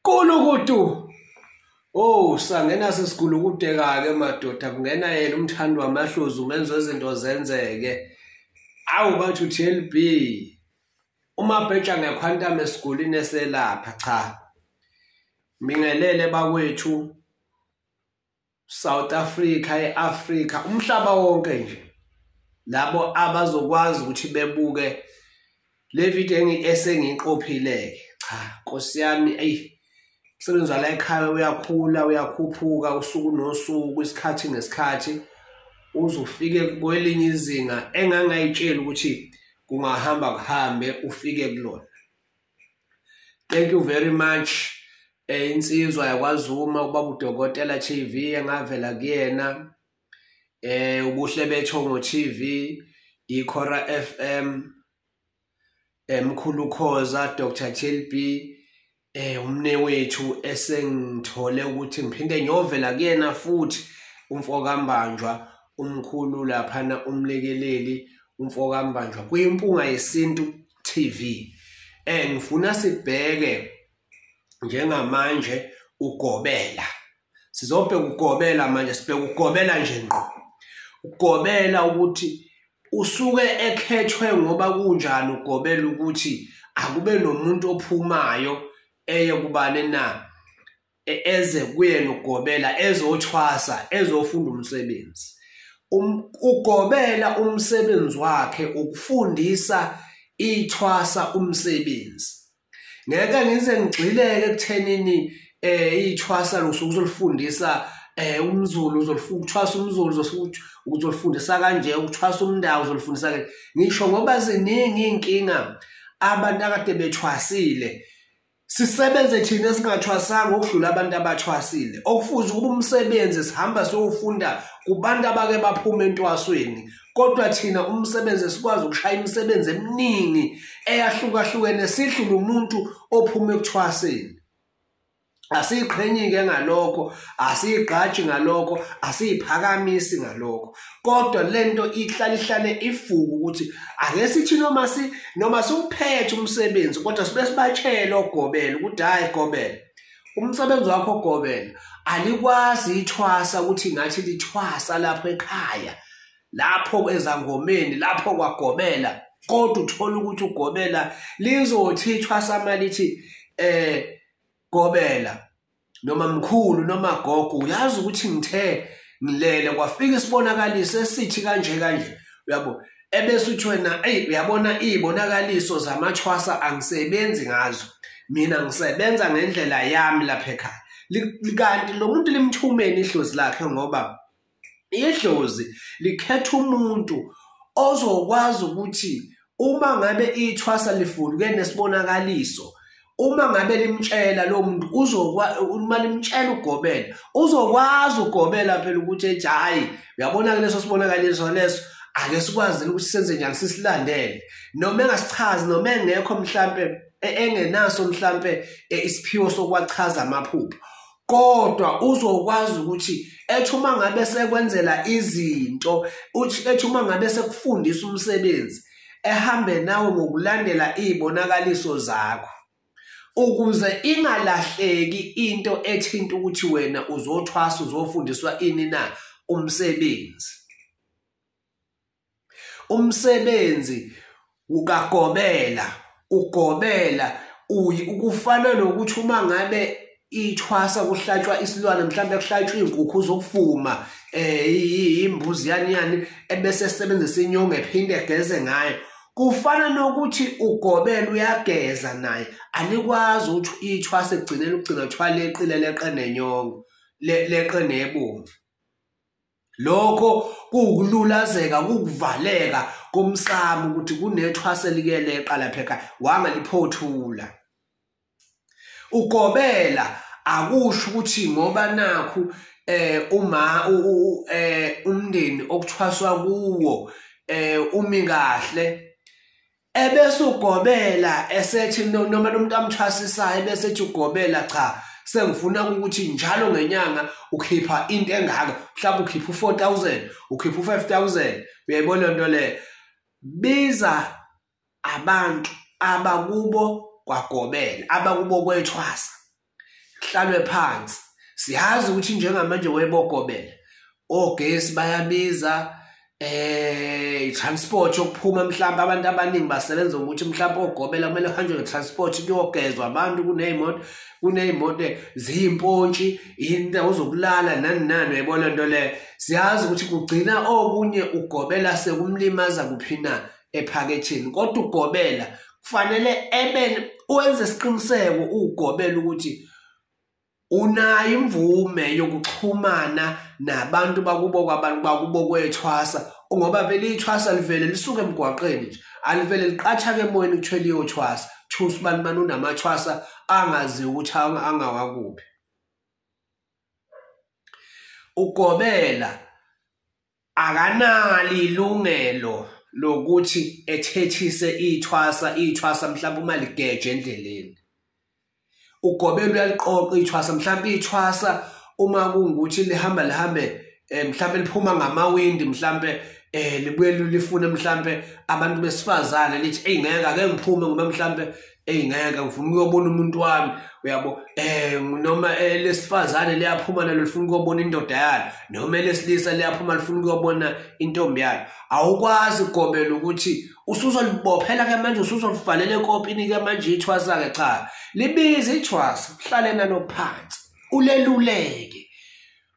Kulukutu. Oh, sangena sesigulukudeka ke madoda kungena yena umthandi wamahlozi umenzo izinto zenzeke. Awu bathu TLB. Uma bheja ngekhwantame esigulini eselapha cha. Mingelele bakwethu South Africa eAfrica umhlaba wonke nje labo abazokwazi ukuthi bebuke le video engi esengiqophileke cha Nkosi yami ayi umsebenzi wala ekhaya uyakhula uyakhuphuka usuku nosuku isikhathi nesikhathi uzufike kwelinye izinga engangayitshela ukuthi kungahamba kuhambe ufike kulona thank you very much eh insizwa yakwazuma ubaba udokotela TV engavela kuyena eh ubuhle betho ngo TV ikhora FM emkhulu eh, khoza Dr TLB eh umne wethu esengithole ukuthi ngiphinde ngiyovela kuyena futhi umfokambanjwa umkhulu laphana umlekeleli umfokambanjwa kuyimpunga yesintu TV eh ngifuna sibheke njengamanje ugobela sizobheka ugobela manje sibheka ugobela nje ngqo ugobela ukuthi usuke ekhethwe ngoba kunjani ugobela ukuthi akube nomuntu ophumayo eye kubane na e-, eze kuyena ugobela ezothwasa ezofunda umsebenzi um, ugobela umsebenzi wakhe ukufundisa ithwasa umsebenzi ngeke ngize ngigxileke ekuthenini eh ithwasa lusuku uzolifundisa eh umzulu uzolifuna ukuthwasa umzulu uzofuthi uzolifundisa kanje ukuthwasa umndawo uzolifundisa kanje ngisho ngoba ziningi inkinga abantu akade bethwasile Sisebenze thina singathwasanga ukudlula abantu abathwasile. Okufuze ukuba umsebenzi sihamba siyofunda kubantu abake baphuma entwasweni. Kodwa thina umsebenzi sikwazi ukushaya imisebenzi eminingi eyahlukahlukene sidlule umuntu ophuma ekuthwaseni. Asiyiqhenyi-ke ngalokho, asiyigqaji ngalokho, asiyiphakamisi ngalokho. kodwa lento ihlale ihlale ifuku ukuthi ake sithi noma si noma siwuphethe umsebenzi kodwa sibe sibatshela ogobela ukuthi hayi gobela umsebenzi wakho ogobela alikwazi ithwasa ukuthi ngathi lithwasa lapho ekhaya lapho ezangomeni lapho kwagobela kodwa uthola ukuthi ugobela lizothi ithwasa malithi eh Gobela noma mkhulu noma gogo uyazi ukuthi ngithe ngilele kwafika isibonakaliso esithi kanje kanje uyabo ebese uthi wena eyi uyabona iy'bonakaliso zamathwasa angisebenzi ngazo mina ngisebenza ngendlela yami lapha ekhaya kanti lo muntu limthumeni ihlozi lakhe ngoba idlozi likhetha umuntu ozokwazi ukuthi uma ngabe ithwasa lifuduke nesibonakaliso uma ngabe limtshela lo muntu uzokwa uma limtshela ugobela uzokwazi ugobela phela ukuthi ethi hayi uyabona ke leso sibonakaliso leso ake sikwazile ukuthi senze njani sisilandele noma engasichazi noma engekho mhlampe e-, engenaso mhlampe e-, isiphiwo sokwachaza amaphupho kodwa uzokwazi ukuthi ethi uma ngabe sekwenzela izinto uthi ethi uma ngabe sekufundisa umsebenzi ehambe nawe ngokulandela izibonakaliso zakho ukuze ingalahleki into ethinta ukuthi wena uzothwasa uzofundiswa ini na umsebenzi umsebenzi ukagobela ugobela uyi ukufana nokuthi uma ngabe ithwasa kuhlatshwa isilwane mhlawumbe kuhlatshwa izinkukhu zokufuma eh imbuzi yani yani ebese sebenzisa inyongo ephinde egeze ngayo kufana nokuthi ugobela uyageza naye anikwazi ukuthi ithwasa egcinela ukugcina kuthiwa leqile leqe nenyongo leqe nebomvu lokho kuwukululazeka kukuvaleka komsamo ukuthi kunethwase likeleqa lapha ekhaya wangaliphothula ugobela akusho ukuthi ngoba nakhu eh uma eh umndeni okuthwaswa kuwo eh umi kahle ebese ugobela esethi noma nomuntu amthwasisayo ebese ethi ugobela cha sengifuna ukuthi njalo ngenyanga ukhipha into engaka mhlawumbe ukhipha u4000 ukhipha u5000 uyayibona into le biza abantu abakubo kwagobela abakubo kwethwasa kuhlalwe phansi siyazi ukuthi njengamanje webokobela ogesi bayabiza eh i-transport yokuphuma mhlawumbe abantu abaningi basebenza ngokuthi mhlawumbe ogobela kumele uhanjwe nge-transport kuyogezwa abantu kuney'moto kuney'moto ziyimpontshi indawo zokulala nani nani uyayibona nto leyo siyazi ukuthi kugcina okunye ugobela sekumlimaza kuphi na ephaketheni kodwa ugobela kufanele ebe wenze isiqiniseko ugobela ukuthi unayo imvume yokuxhumana nabantu bakubo kwabantu bakubo kwethwasa ngoba vele ithwasa livele lisuke emgwaqeni nje alivele liqatha ke emoyeni kuthiwa liyothwasa kuthiwa usibani bani unamathwasa angaziwa ukuthi angawakuphi ugobela akanali ilungelo lokuthi ethethise ithwasa ithwasa mhlawumbe uma ligeje endleleni ugobelo uyaliqoqa ithwasa mhlawumbe ithwasa uma kungukuthi lihamba lihambe eh, mhlawumbe liphuma ngamawindi mhlawumbe eh libuye lifune mhlambe abantu besifazane lithi hey ngeke ake ngiphume ngoba mhlambe eyi ngeke ngifuna ukuyobona umuntu wami uyabo um noma eh, lesifazane liyaphuma nalo lifuna ukuyobona indoda yalo noma elesilisa liyaphuma lifuna ukuyobona intombi yalo awukwazi ukugomela ukuthi usuzolibophela ke manje usuzolivalela ekopini ke manje ithwasa-ke cha libize ithwasa uhlale nalo phansi uleluleke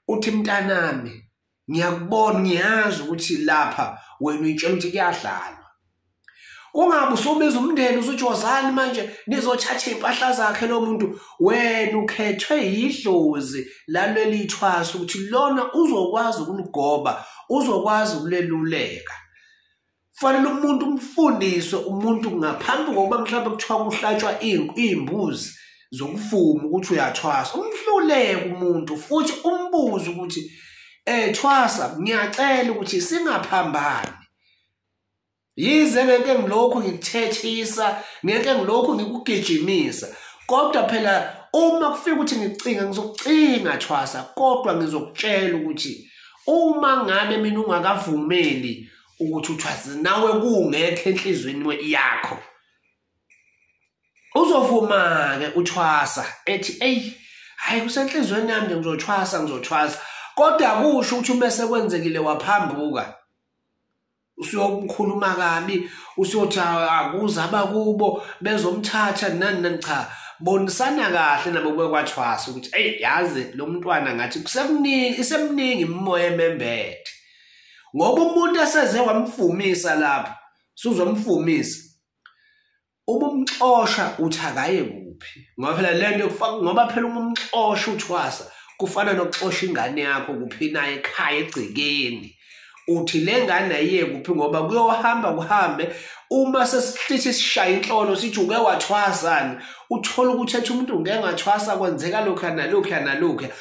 uthi mntanami ngiyakubona ngiyazi ukuthi lapha wena uyitshela ukuthi kuyadlalwa kungabe usubiza umndeni usuthi wozani manje nizothatha iy'mpahla zakhe lo muntu wena ukhethwe yidlozi laleli thwasa ukuthi lona uzokwazi ukuligoba uzokwazi ukuleluleka kufanele umuntu umfundise umuntu ngaphambi kokuba mhlawumbe kuthiwa kuhlatshwa iy'mbuzi zokuvuma ukuthi uyathwasa umhluleke umuntu futhi umbuze ukuthi um thwasa ngiyacela ukuthi singaphambani yize ngeke ngilokhu ngikuthethisa ngeke ngilokhu ngikugijimisa kodwa phela uma kufika ukuthi ngicinga ngizokucinga thwasa kodwa ngizokutshela ukuthi uma ngabe mina ungakavumeli ukuthi uthwazi nawe kungekho enhlizweni yakho uzovuma-ke uthwasa ethi eyi hhayi kusenhlizweni yami nje ngizothwasa ngizothwasa kodwa kusho ukuthi uma sekwenzekile waphambuka usuyokukhuluma kabi usuyothi akuza abakubo bezomthatha nani nani cha bonisana kahle nabo kube kwathwasa ukuthi eyi yazi lo mntwana ngathi kusemningi isemningi imimoya emembethe ngoba umuntu eseze wamfumisa lapho suzomfumisa ubumxosha uthi akaye kuphi ngoba phela le nto ngoba phela uma umxosha uthwasa kufana nokuxosha ingane yakho kuphi naye ekhaya egcekeni uthi le ngane ayiye kuphi ngoba kuyohamba kuhambe uma sesihlithi sishaya inhlolo sithi uke wathwasani uthole ukuthi ethi umuntu ngeke ngathwasa kwenzeka lokhu nalokhu nalokhu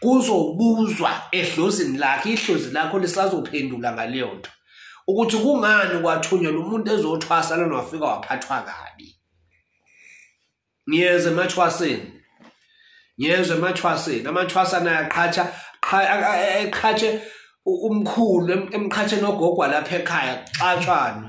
kuzobuzwa edlozini lakhe ihlozi lakho lisazophendula ngaleyo nto ukuthi kungani kwathunyelwa umuntu ezothwasa lona wafika waphathwa kabi ngiyeza emathwaseni ngiyezwa emathwaseni amathwasa naye aqhatsha eqhatshe umkhulu emqhatsheni ogogwa lapha ekhaya kuxatshwana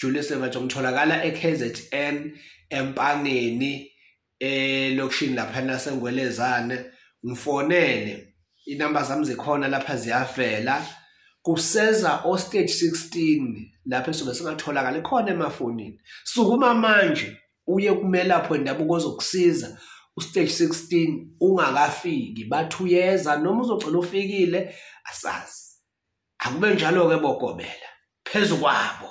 Julius Nemajo ngitholakala eKZN empangeni eh lokushini lapha nasengwelezane ngifonele inamba zami zikhona lapha ziyavela kuseza o stage 16 lapha sobe singatholakala khona emafonini sukuma manje uye kumelapho endabuko ozokusiza ustage 16 ungakafiki bathi uyeza noma uzogcina ufikile asazi akube njalo-ke bokobela phezu kwabo